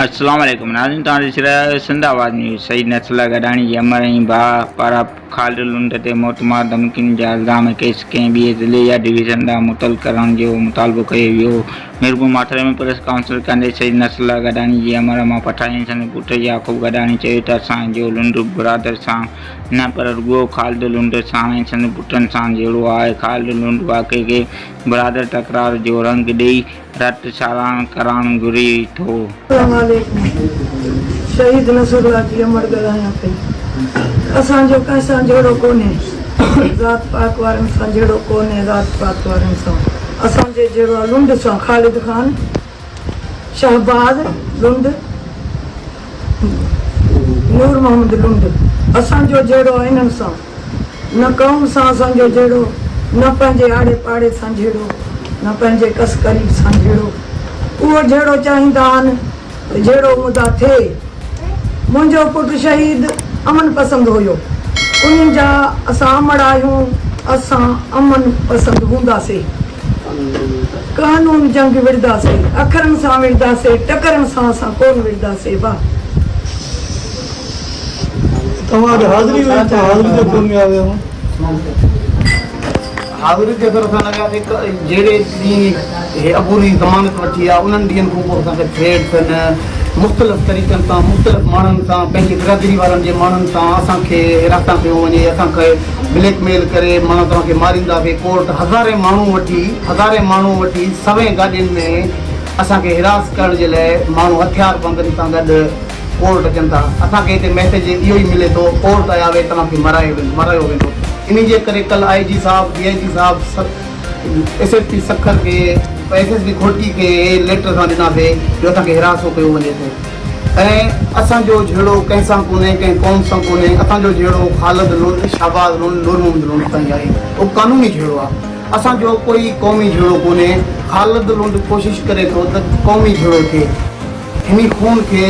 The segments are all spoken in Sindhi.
السلام عليڪم ناظرين توهان ڏسي رهيا آهيو سنڌ آواز نيوز شهيد نصر الله گڏاڻي جي امڙ ۽ ڀاء پارا خالد لنڊ تي موتمار ڌمڪين جا الزام ۽ ڪيس ڪنهن ٻئي ضلعي يا ڊويزن ڏانهن متعلق ڪرڻ جو مطالبو ڪيو ويو ميرپور ماٿري ۾ پريس ڪانفرنس ڪندي شهيد نصر الله گڏاڻي جي امڙ مان پٺايا ۽ سندس پٽ يعقوب گڏاڻي چيو ته اسان جو لنڊ برادر سان نه پر رڳو خالد لنڊ سان ۽ سندس پٽن سان جهيڙو آهي خالد لنڊ واقعي کي برادر تڪرار جو رنگ ڏئي رٽ ساراهڻ ڪرڻ گهري ٿو. اسلام عليڪم شهيد نصر الله جي امڙ ڳالهايان پئي اسان جو ڪنهن سان جهيڙو ڪونهي ذات پات وارن سان جهيڙو ڪونهي ذات پات وارن سان اسان جي جهيڙو آ لنڊ سان خالد خان شهباز لنڊ نور محمد لنڊ اسان جو جهيڙو آ انهن سان. نه قوم سان اسان جو جهيڙو، نه پنهنجي آڙي پاڙي سان جهيڙو، نه پنهنجي ڪس قريب سان جهيڙو. اهو جهيڙو چاهين ٿا آن ته جهيڙو مدعا ٿئي. منهنجو پٽ شهيد امن پسند هيو. انهي جا اسان امڙ آهيون، اسان امن پسند هونداسي. قانون جنگ وڙهداسي، اکرن سان وڙهداسي، ٽڪرن سان اسان ڪونه وڙهداسي. واهه! توهان جو حاضري هئي ته حاضري تي ڪو نه آيو هون. حاضري تي اگر اسان لڳا ٿي جهڙي ڏينهن هي عبوري ضمانت وٺي آ انهن ڏينهن کان پوء اسان کي ٿريڊ سن مختلف طريقن سان مختلف ماڻهن سان پنهنجي برادري وارن جي ماڻهن سان اسان کي هراسان ڪيو وڃي اسان کي بليڪ ميل ڪري ماڻهن توهان کي مارينداسي ڪورٽ هزارين ماڻهو وٺي هزارين ماڻهو وٺي سوين گاڏين ۾ اسان کي هراس ڪرڻ جي لاء ماڻهو هٿيار بندن سان گڏ ڪورٽ اچن ٿا اسان کي هتي ميسيج اهو ئي ملي ٿو ڪورٽ آيا وي توهان کي مرايو ويندو مرايو ويندو انهي جي ڪري ڪل آء جي صاحب ڊي آء جي صاحب ايس ايس پي سکر کي ايس ايس پي گهوٽي کي ليٽر اسان ڏناسي جو اسان کي هراسو ڪيو وڃي ٿو ۽ اسان جو جهيڙو ڪنهن سان ڪونهي ڪنهن قوم سان ڪونهي اسان جو جهيڙو خالد لون شهباز لون نور محمد لون سان آهي اهو قانوني جهيڙو آهي اسان جو ڪوئي قومي جهيڙو ڪونهي خالد لون ڪوشش ڪري ٿو ته قومي جهيڙو ٿئي هني خون کي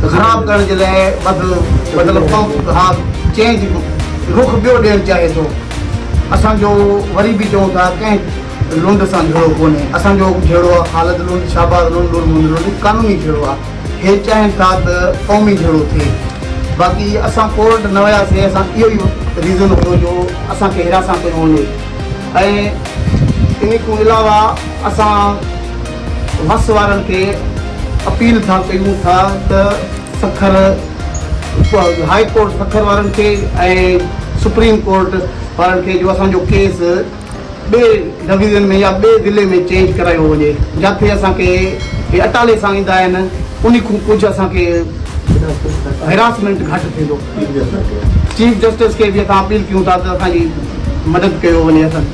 خراب ڪرڻ جي لاء وڌ مطلب پمپ ها چينج رخ ٻيو ڏيڻ چاهي ٿو اسان جو وري به چئون ٿا ڪنهن لنڊ سان جهيڙو ڪونهي اسان جو جهيڙو آ خالد لنڊ شهباز لنڊ نور محمد لنڊ قانوني جهيڙو آ هي چاهين ٿا ته قومي جهيڙو ٿئي باقي اسان ڪورٽ نه وياسي اسان اهو ئي ريزن هو جو اسان کي هراسان ڪيو وڃي ۽ انهي کون علاوه اسان وس وارن کي اپيل ٿا ڪيون ٿا ته سکر هاء ڪورٽ سکر وارن کي ۽ سپريم ڪورٽ وارن کي جو اسان جو ڪيس ٻي ڊويزن ۾ يا ٻي ضلعي ۾ چينج ڪرايو وڃي جاٿي اسان کي هي اٽالي سان ايندا آهن انهي کون ڪجهه اسان کي هراسمينٽ گهٽ ٿيندو چيف جسٽس کي به اسان اپيل ڪيون ٿا ته اسان جي مدد ڪيو وڃي اسان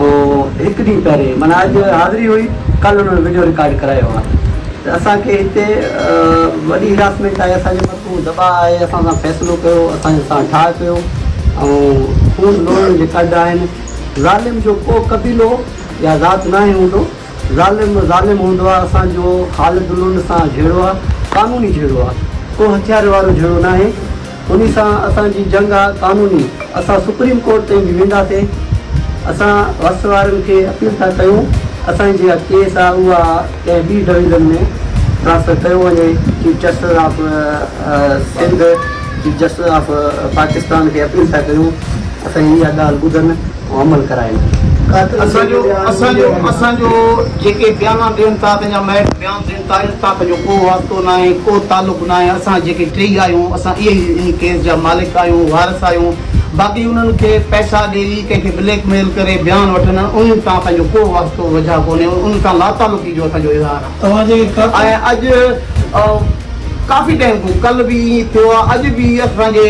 هو هڪ ڏينهن پهرين معنيٰ اڄ حاضري هئي ڪل انهن وڊيو رڪارڊ ڪرايو آهي ته اسان کي هتي وڏي هراسمينٽ آهي اسان جي مٿو دٻاء آهي اسان سان فيصلو ڪيو اسان سان ٺاهه ڪيو ۽ خون لوڙڻ جي ڪڍ آهن ظالم جو ڪو قبيلو يا ذات ناهي هوندو ظالم ظالم هوندو آهي اسان جو خالد لنڊ سان جهيڙو آهي قانوني جهيڙو آهي ڪو هٿيار وارو جهيڙو ناهي انهي سان اسان جي جنگ آ قانوني اسان سپريم ڪورٽ تائين به وينداسين اسان وس وارن کي اپيل ٿا ڪيون اسان جي جيڪا ڪيس آ اها ڪنهن ٻي ڊويزن ۾ ٽرانسفر ڪيو وڃي chief justice of Sindh chief justice of Pakistan کي اپيل ٿا ڪيون اسان جي اها ڳالهه ٻڌن. عمل ڪرائين. اسان جو اسان جو اسان جو جيڪي بيانا ڏين ٿا تنهن جا مئٽ بيان ڏين تاريخ سان تنهن جو ڪو واسطو ناهي ڪو تعلق ناهي اسان جيڪي ٽيئي آهيون اسان اهي ئي ان ڪيس جا مالڪ آهيون وارث آهيون باقي انهن کي پئسا ڏئي ڪنهن کي بليڪ ميل ڪري بيان وٺن انهن سان اسان جو ڪو واسطو وجهه ڪونهي انهن سان لاتعلقي جو اسان جو اظهار آهي. ۽ اڄ ڪافي ٽيم کان ڪل به ائين ٿيو آهي اڄ به اسان جي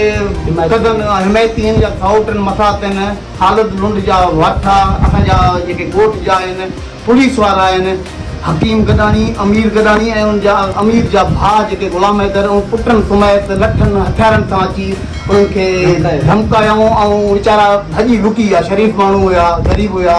ڪڌن حمايتين يا سائوٽن مٿا تن خالد لنڊ جا واٺا اسان جا جيڪي ڳوٺ جا آهن پوليس وارا آهن حڪيم گڏاڻي امير گڏاڻي ۽ ان جا امير جا ڀاء جيڪي غلام حيدر ۽ پٽن سميت لٺن هٿيارن سان اچي انهن کي ڌمڪايائون ۽ ويچارا ڀڄي لڪي ويا شريف ماڻهو هيا غريب هيا.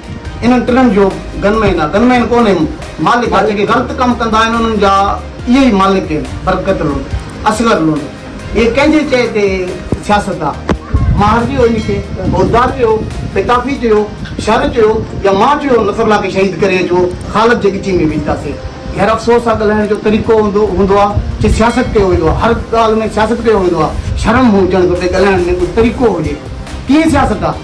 انهن ٽنهن جو گن مين آ. گن مين ڪونهي مالڪ آ. جيڪي غلط ڪم ڪندا آهن انهن جا اهي ئي مالڪ آهن. برڪت لنڊ، اصغر لنڊ اهي ڪنهن جي چئي تي سياست آ. ماهر چيو ان کي، بوزدار چيو، پتافي چيو، شر چيو يا مان چيو نصرالله کي شهيد ڪري اچو خالد جي ڳچي ۾ وجهداسي. خير افسوس آ ڳالهائڻ جو طريقو هوندو آ چي سياست ڪيو ويندو آ. هر ڳالهه ۾ سياست ڪيو ويندو آ. شرم هجڻ کپي ڳالهائڻ ۾ ڪجهه طريقو هجي. ڪيئن سياست آ.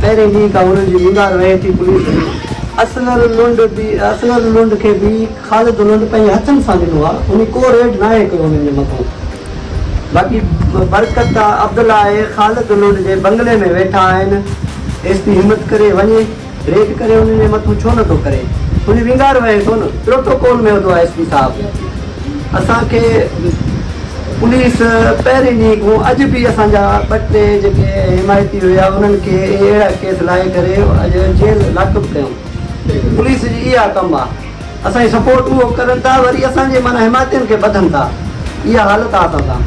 پهرين ڏينهن کان هنن جي ننگار وهي ٿي، پوليس به اصغر لنڊ به اصغر لنڊ کي به خالد لنڊ پنهنجي هٿن سان ڏنو آهي، هنن ڪو ريڊ ناهي ڪيو هنن جي مٿان، باقي برڪت، عبدالله ۽ خالد لنڊ جي بنگلي ۾ ويٺا آهن، ايس پي همت ڪري وڃي ريڊ ڪري هنن جي مٿان ڇو نه ٿو ڪري، هنجي ننگار وهي ٿو نه، پروٽوڪول ۾ هوندو آهي ايس پي صاحب اسان کي. پوليس پهرين ڏينهن کان اڄ به اسان جا ٻه ٽي جيڪي حمايتي هيا انهن کي اهڙا ڪيس لاهي ڪري اڄ جيل لاڪپ ڪيون پوليس جي اها ڪم آ اسان جي سپورٽ اهو ڪرن ٿا وري اسان جي معنيٰ حمايتين کي ٻڌن ٿا اها حالت آ اسان سان.